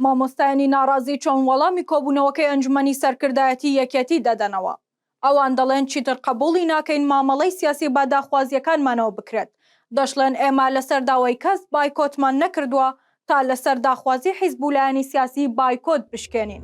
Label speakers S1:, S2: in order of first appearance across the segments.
S1: مامۆستایانی ناڕازی چۆن وەڵامی کۆبوونەوەکەی ئەنجومەنی سەرکردایەتی یەکێتی دەدەنەوە؟ ئەوان دەڵێن چیتر قبوڵی ناکەین مامەڵەی سیاسی بە داخوازیەکانمانەوە بکرێت، دەشڵێن ئێمە لەسەر داوای کەس بایکۆتمان نەکردووە تا لەسەر داخوازی حیزب و لایەنی سیاسی بایکۆت بشکێنین.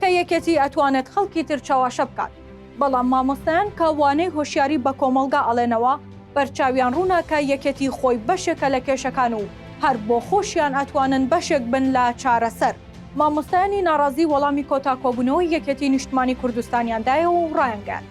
S1: کە یەکێتی ئەتوانێت خەڵکی تر چەواشە بکات بەڵام مامۆستایان کە وانەی هۆشیاری بە کۆمەڵگا ئەڵێنەوە بەرچاویان ڕوونە کە یەکێتی خۆی بەشێکە لە کێشەکان و هەر بۆ خۆشیان ئەتوانن بەشێک بن لە چارەسەر. مامۆستایانی ناڕازی وەڵامی کۆتا کۆبوونەوەی یەکێتی نیشتمانی کوردستانیان دایەوە و ڕایانگەیاند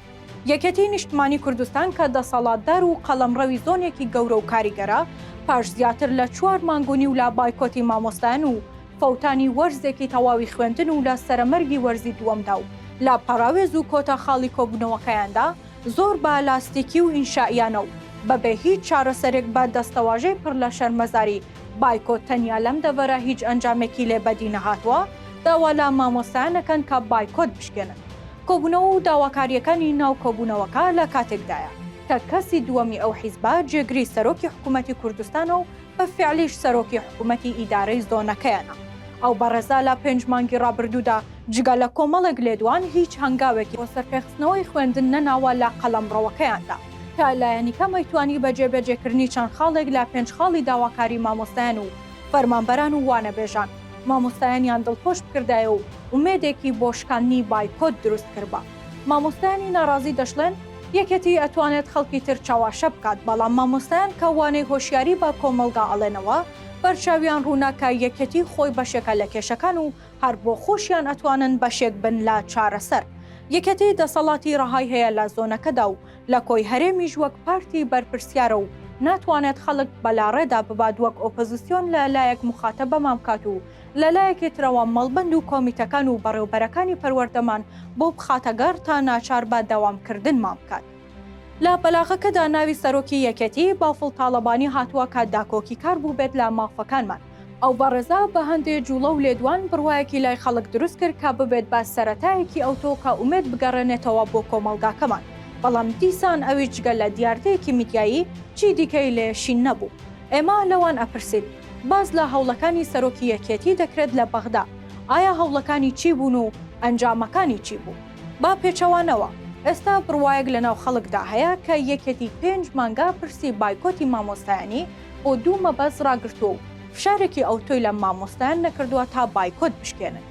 S1: یەکێتی نیشتمانی کوردستان کە دەسەڵاتدار و قەڵەمڕەوی زۆنێکی گەورە و کاریگەرە پاش زیاتر لە چوار مانگ و نیو لە بایکۆتی مامۆستایان و فەوتانی وەرزێکی تەواوی خوێندن و لە سەرەمەرگی وەرزی دووەمدا و لە پەڕاوێز و کۆتا خاڵی کۆبوونەوەکەیاندا زۆر بە لاستیکی و ئینشائیانە و بەبێ هیچ چارەسەرێک بە دەستەواژەی پڕ لە شەرمەزاری بایکۆت تەنیا لەم دەڤەرە هیچ ئەنجامێکی لێ بەدی نەهاتووە داوا لە مامۆستایان ئەکەن کە بایکۆت بشکێنن. کۆبوونەوە و داواکارییەکانی ناو کۆبوونەوەکە لە کاتێکدایە کە کەسی دووەمی ئەو حیزبە جێگری سەرۆکی حکوومەتی کوردستانە و بە فیعلیش سەرۆکی حکوومەتی ئیدارەی زۆنەکەیانە. ئەو بەڕێزە لە پێنج مانگی ڕابردوودا جگە لە کۆمەڵێک لێدوان هیچ هەنگاوێکی بۆ سەرپێخستنەوەی خوێندن نەناوە لە قەڵەمڕەوەکەیاندا، کە لایەنی کەمەی توانی بە جێبەجێکردنی چەند خاڵێک لە پێنج خاڵی داواکاری مامۆستایان و فەرمانبەران و وانەبێژان مامۆستایانیان دڵخۆش بکردایە و ئومێدێکی بۆ شکاندنی بایکۆت دروست کربا. مامۆستایانی ناڕازی دەشڵێن، یەکێتی ئەتوانێت خەڵکی تر چەواشە بکات، بەڵام مامۆستایان کە وانەی هۆشیاری بە کۆمەڵگا ئەڵێنەوە، بەرچاویان ڕوونە کە یەکێتی خۆی بەشێکە لە کێشەکان و هەر بۆ خۆشیان ئەتوانن بەشێک بن لە چارەسەر. یەکێتی دەسەڵاتی ڕەهای هەیە لە زۆنەکەدا و لە کۆی هەرێمیش وەک پارتی بەرپرسیارە و ناتوانێت خەڵک بەلاڕێدا ببات وەک ئۆپۆزسیۆن لە لایەک موخاتەبەمان بکات و لە لایەکی ترەوە مەڵبەند و کۆمیتەکان و بەڕێوبەرەکانی پەروەردەمان بۆ بخاتە گەڕ تا ناچار بە دەوامکردنمان بکات. لە بەلاغەکەدا ناوی سەرۆکی یەکێتی، بافڵ تاڵەبانی هاتووە کە داکۆکیکار بووبێت لە مافەکانمان. ئەو بەڕێزە بە هەندێ جووڵە و لێدوان بڕوایەکی لای خەڵک دروست کرد کە ببێت بە سەرەتایەکی ئەوتۆ کە ئومێد بگەڕێنێتەوە بۆ کۆمەڵگاکەمان، بەڵام دیسان ئەویش جگە لە دیاردەیەکی میدیایی چی دیکەی لێ شین نەبوو. ئێمە لەوان ئەپرسین. باس لە هەوڵەکانی سەرۆکی یەکێتی دەکرێت لە بەغدا، ئایا هەوڵەکانی چی بوون و ئەنجامەکانی چی بوو؟ بە پێچەوانەوە، ئێستا بڕوایەک لەناو خەڵکدا هەیە کە یەکێتی پێنج مانگە پرسی بایکۆتی مامۆستایانی بۆ دوو مەبەست ڕاگرتووە و فشارێکی ئەوتۆی لە مامۆستایان نەکردووە تا بایکۆت بشکێنن،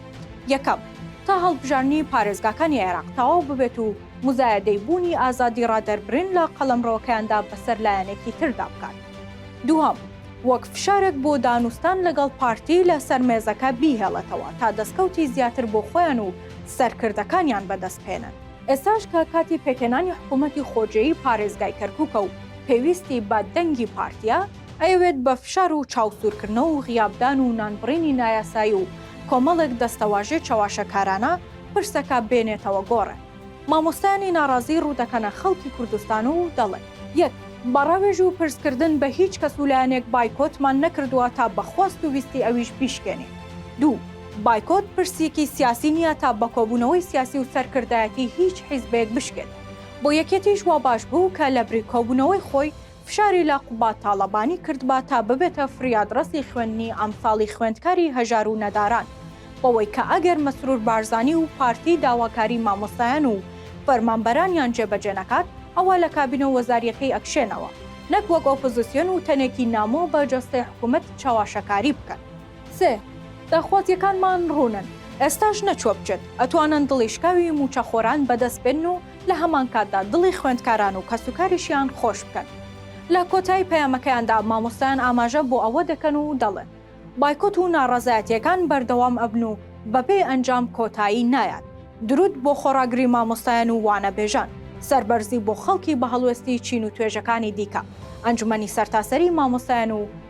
S1: یەکەم، تا هەڵبژاردنی پارێزگاکانی عێراق تەواو ببێت و موزایەدەی بوونی ئازادی ڕادەربرین لە قەڵەمڕەوەکەیاندا بەسەر لایەنێکی تردا بکات، دووهەم، وەک فشارێک بۆ دانوستان لەگەڵ پارتی لە سەر مێزەکە بیهێڵێتەوە تا دەستکەوتی زیاتر بۆ خۆیان و سەرکردەکانیان بەدەست بهێنن. ئێستاش کە کاتی پێکهێنانی حکوومەتی خۆجێی پارێزگای کەرکووکە و پێویستی بە دەنگی پارتییە، ئەیەوێت بە فشار و چاوسوورکردنەوە و غیابدان و نانبڕینی نایاسایی و کۆمەڵێک دەستەواژەی چەواشەکارانە پرسەکە بێنێتەوە گۆڕێ. مامۆستایانی ناڕازی ڕوودەکەنە خەڵکی کوردستان و دەڵێن، یەک. بە ڕاوێژ و پرسکردن بە هیچ کەس و لایەنێک بایکۆتمان نەکردووە تا بە خواست و ویستی ئەویش بیشکێنین. دوو. بایکۆت پرسیکی سیاسی نییە تا بە کۆبوونەوەی سیاسی و سەرکردایەتی هیچ حیزبێک بشکێنین. بۆ یەکێتیش وا باش بوو کە لەبری کۆبوونەوەی خۆی، فشاری لە قوباد تاڵەبانی کردبا تا ببێتە فریادڕەسی خوێندنی ئەمساڵی خوێندکاری هەژار و نەداران بەوەی کە ئەگەر مەسرور بارزانی و پارتی داواکاری مامۆستایان و فەرمانبەرانیان جێبەجێ نەکات ئەوا لە کابینە وەزاریەکەی ئەکشێنەوە نەک وەک ئۆپۆزسیۆن و تەنێکی نامۆ بە جەستەی حکومەت چەواشەکاری بکەن. سێ، داخوازیەکانمان ڕوونن ئێستاش نەچوە بچێت ئەتوانن دڵی شکاوی موچەخۆران بەدەست بێنن و لە هەمانکاتدا دڵی خوێندکاران و کەسوکاریشیان خۆش بکەن. لە کۆتایی پەیامەکەیاندا مامۆستایان ئاماژە بۆ ئەوە دەکەن و دەڵێن، بایکۆت و ناڕەزایەتییەکان بەردەوام ئەبن و بەبێ ئەنجام کۆتایی نایات. دروود بۆ خۆڕاگری مامۆستایان و وانەبێژان. سەربەرزی بۆ خەڵکی بە هەڵوێستی چین و توێژەکانی دیکە، ئەنجومەنی سەرتاسەری مامۆستایان و.